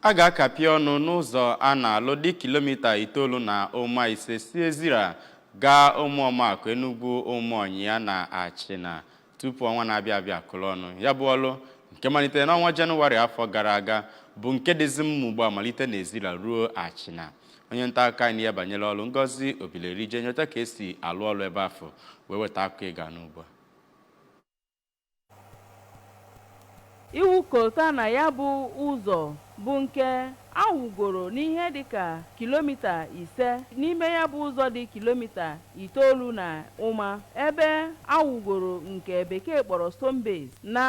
A ga-akapị ọnụ n'ụzọ a na-alụ dị kilomita itoolu na ụma ise si Ezira gaa Ụmụọmakụ, Enugwu Ụmụọnyịa na Achịna tupu ọnwa na-abịa abịa akụrụ ọnụ. Ya bụ ọrụ nke malitere n'ọnwa Jenụwarị afọ gara aga bụ nke dịzi mma ugbu a malite n'Ezira ruo Achịna. Onye nta akụkọ anyị n'ihe banyere ọrụ Ngozi Obileri je nyochaa ka e si alụ ọrụ ebe afụ wee weta akụkọ ị ga-anụ ugbu a. Ịwụ kolta na ya bụ ụzọ bụ nke a wụgoro n'ihe dịka kilomita ise n'ime ya bụ ụzọ dị kilomita itoolu na ụma ebe a wụgoro nke Bekee kpọrọ Stone Base na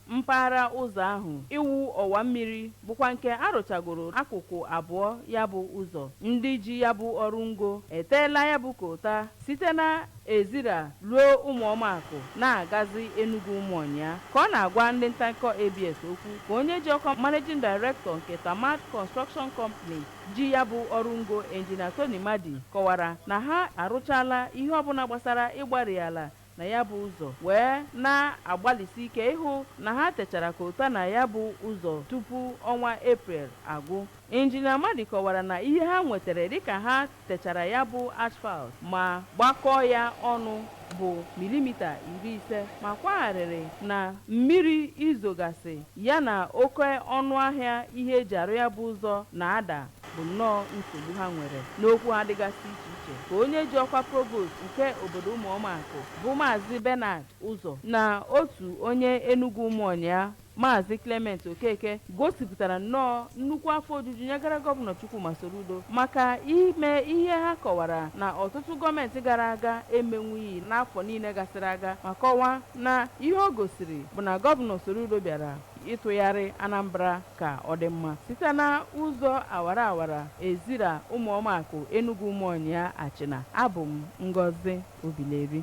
mpaghara ụzọ ahụ. Ịwụ ọwa mmiri bụkwa nke a rụchagoro akụkụ abụọ ya bụ ụzọ. Ndị ji ya bụ ọrụ ngo eteela ya bụ kolta site na Ezira ruo Ụmụọmakụ na-agazi Enugwu Ụmụọnyịa. Ka ọ na-agwa ndị nta akụkọ ABS okwu ka onye ji ọkwa Managing Director nke Tamad Construction Company ji ya bụ ọrụ ngo Engineer Tony Madi kọwara na ha arụchaala ihe ọbụla gbasara ịgbarị ala na ya bụ ụzọ wee na-agbalịsi ike ịhụ na ha techara kolta na ya bụ ụzọ tupu ọnwa April agwụ. Injinia Madi kọwara na ihe ha nwetere dịka ha techara ya bụ asphalt ma gbakọọ ya ọnụ bụ milimita iri ise ma kwaa arịrị na mmiri izogasị ya na oke ọnụahịa ihe e ji arụ ya bụ ụzọ na-ada bụ nnọọ nsogbu ha nwere. N'okwu ha dịgasị iche iche ka onye ji ọkwa Provost nke obodo Ụmụọmakụ bụ Maazị Bernard Ụzọ na otu onye Enugwu Ụmụọnyịa Maazị Clement Okeke gosipụtara nnọọ nnukwu afọ ojuju nyegara Gọvanọ Chukwuma Soludo maka ime ihe ha kọwara na ọtụtụ gọọmenti gara aga emenwughị n'afọ niile gasịrị aga ma kọwaa na ihe o gosiri bụ na Gọvanọ Soludo bịara ịtụgharị Anambra ka ọ dị mma site na ụzọ awara awara Ezira Ụmụọmakụ Enugwu Ụmụọnyịa Achịna. Abụ m Ngozi Obileri.